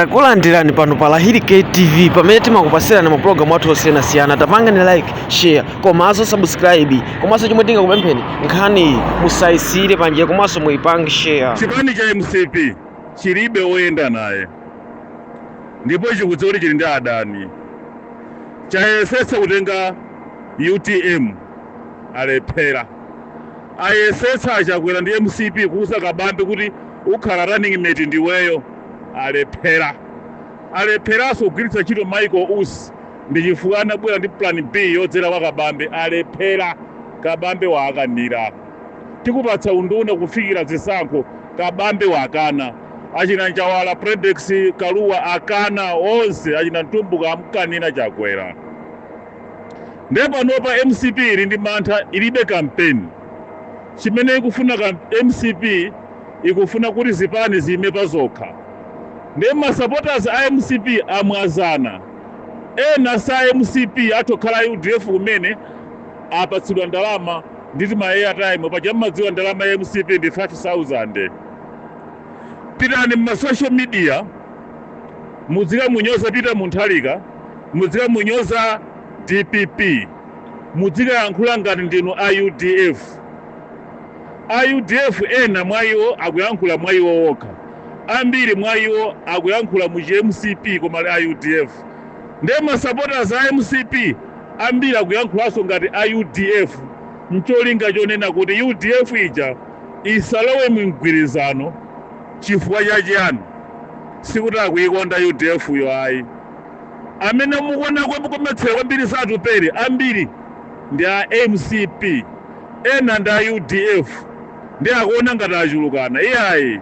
Takulandirani pano pa Lahiri K TV pamene timakupasirani ma program athu osiyanasiyana. Tapangani like, share, komanso subscribe. Komanso chomwe tingakupempheni nkhaniyi musayisiyire panjira komanso muyipange share. chipani cha mcp chilibe woyenda naye ndipo chikudziwa kuti chili ndi adani chayesetsa kutenga utm alephera Ayesetsa achakwera ndi mcp kuuza kabambe kuti ukhala running mate ndiweyo alephera. Alepheraso kugwiritsa ntchito Michael usi ndichifukwa anabwera ndi plan B yodzera kwa kabambe alephera. Kabambe waakanira. Tikupatsa unduna kufikira zisankho kabambe wakana. Achina njawala, Fredokiss, kalua akana onse achina mtumbuka amukanira chakwera. Nde panopa mcp ili ndi mantha ilibe kampeni chimene ikufuna kamp mcp ikufuna kuti zipani ziime pazokha nde ma supporters a mcp amwazana ena sa mcp athu okhala a udf amene apatsidwa ndalama ndi tima airtime paja mmadziwa ndalama ya mcp ndi 5000 pitani mma social media mudzikamunyoza Peter Mutharika mudzikamunyoza Dpp mudzikayankhula ngati ndinu a udf. A udf ena mwa iwo akuyankhula mwa iwo okha. Ambiri mwa iwo akuyankhula mu chi mcp koma ali a udf. Nde ma supporters a mcp ambiri akuyankhulanso ngati a udf ncholinga chonena kuti udf ija isalowe mu mgwirizano. Chifukwa cha chiyani? Sikuti akuyikonda udf yo ayi. Amene mukuona kometsera kwambiri za Atupele ambiri ndi a mcp ena ndi a udf ndiye akuona ngati achulukana iyayi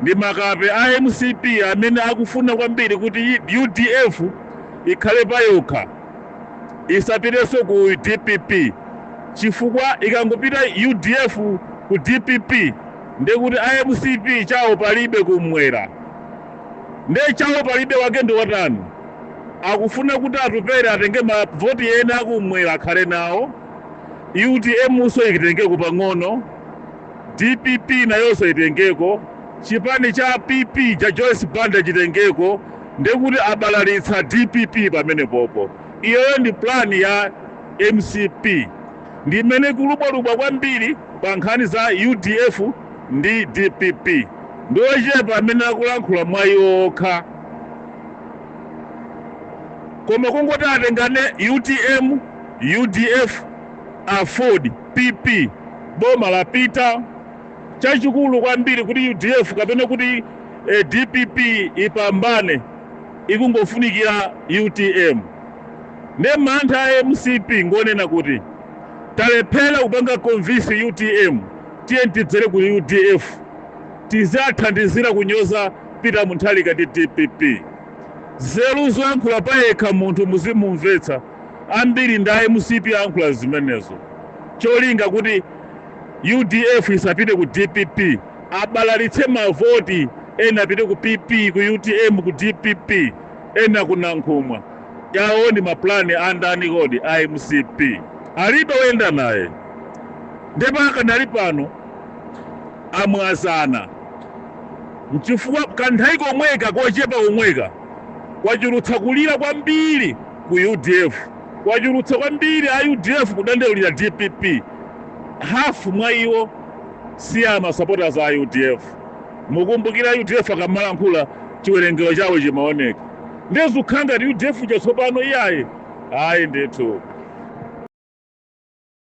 ndi makape a mcp amene akufuna kwambiri kuti udf ikhale payokha isapiteso ku dpp chifukwa ikangopita udf ku dpp ndiye kuti a mcp chawo palibe kum'mwera. Nde chawo palibe wake ndiwotani? Akufuna kuti Atupele atenge ma voti ena akumwera akhale nawo, utm nso itengeko pang'ono, dpp nayonso itengeko, chipani cha PP cha Joyce Banda chitengeko ndekuti abalalitsa dpp pamenepopo. Iyoyo ndi plan ya mcp. Ndi mmene ikulubwalubwa kwambiri pa nkhani za udf ndi dpp. Ndi ochepa amene akulankhula mwa iwo okha. Koma kungoti atengane utm, udf, aford, pp, boma lapita. Chachikulu kwambiri kuti udf kapena kuti dpp ipambane ikungofunikira utm. Nde mantha a mcp ngonena kuti talephera kupanga convince utm tiyeni tidzere ku udf tiziathandizira kunyoza Peter Mutharika ndi dpp. Nzeru zoyankhula payekha munthu muzimumvetsa ambiri ndi a mcp akuyankhula zimenezo cholinga kuti udf isapite ku dpp abalalitse mavoti ena apite ku pp ku utm ku dpp. Ena ku Nankhumwa awo ndi ma plan a ndani kodi? A mcp alibe oyenda naye nde pakanali pano amwazana mchifukwa kanthawi komweka kochepa komweka kwachulutsa kulira kwambiri ku udf, kwachulutsa kwambiri a udf kudandaulira dpp, half mwa iwo si ma supporters a udf. Mukumbukira udf ikamalankhula chiwerengero chawo chimaoneka ndiye zikukhala ngati udf uja tsopano iyayi ayi ndithu.